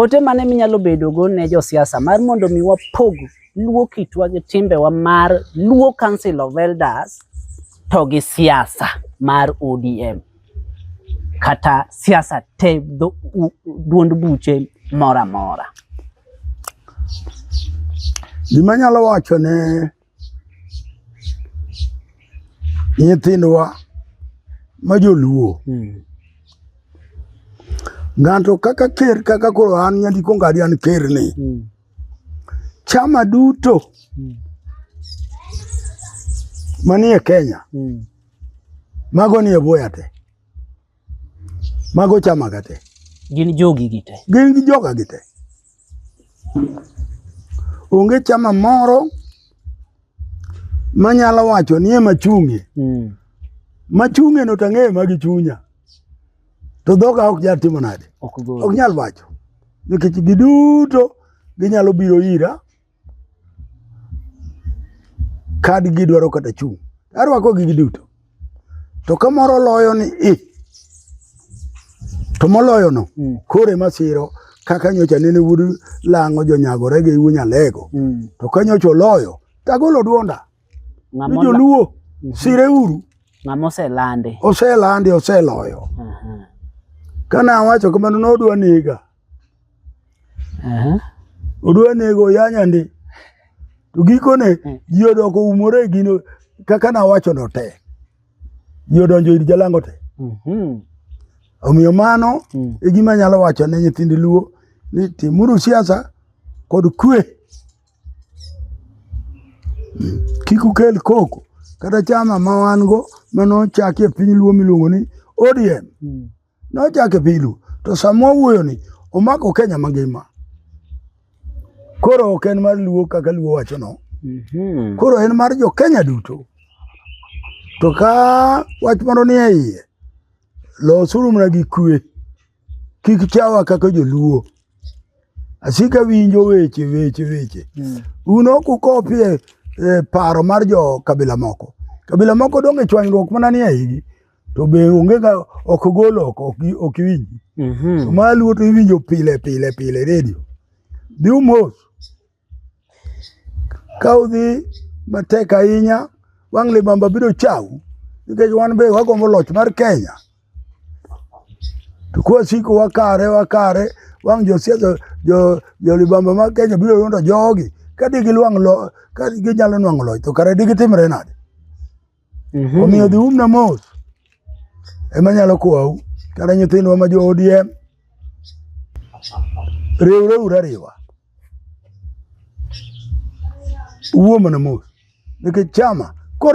Ote mane minyalo bedogo ne josiasa mar mondo mi wapog luo kitwa gi timbewa mar Luo Council of Elders to gi siasa mar ODM kata siasa te duond buche mora mora. Gima nyalo wacho ne nyithindwa ma joluo hmm. ng'ato kaka ker kaka koro an nyandiko ngadi an ker ni hmm. chama duto hmm. manie Kenya mago nie boya te Mago chama ga te. Gin jogi gi te. Gin gi joga gi te. Onge chama moro manyalo wacho ni ema chunge. Mm. Machunge no tang'eyo ma gichunya. To dhoga ok nyal timo nade? Ok nyal wacho. Nikech giduto ginyalo biro ira. kadgi dwaro kata chung' arwako gigi duto to ka moro loyo ni i to moloyono mm. koro ema siro kaka nyocha nene wuod lang'o jonyagore gi wuo nyalego mm. to ka nyocha oloyo tagolo duonda ni joluo mm -hmm. sire uru ng'ama oselande oselande oseloyo uh -huh. ka nawacho kamano nodwa nega odwa nego yanya ndi to gikone hmm. ji odoko umore gino kaka nawacho no te ji odonjo ir jalango te mhm. omiyo mano hmm. e gima nyalo wacho ne nyithind luo ni timuru siasa kod kwe kik ukel koko kata chama ma wan go mano chaki e piny luo miluongo ni ODM. Mm. Nochake pilu to sama wawuoyoni omako Kenya mangima. Koro ok en mar Luo kaka Luo wachono. Mm -hmm. Koro en mar jo Kenya duto. To ka wach moro ni e iye, losuru mana gi kwe, kik chawa kaka joluo. Asika winjo weche weche weche. Mm. Un ok ukopie eh, paro mar jo kabila moko. Kabila moko donge chwanyruok mana ni e igi. to be onge ga ok gol oko ok gi- ok iwinji Mhm. to ma luo to iwinjo pile pile pile redio dhi umos ka udhi matek ahinya wang' libamba biro chau nikech wan be wagombo loch mar kenya to kwasiko wakare wakare wang' josiasa jo, jo libamba mar kenya biro yudo jogi ka digiluang' lo ka ginyalo nwang'o loch to kare digitimre nade Mhm. Omiyo dhi umna mos ema nyalo kowau kata nyithindwa ma jo ODM riwre ura riwa uwo mana mos nikech chama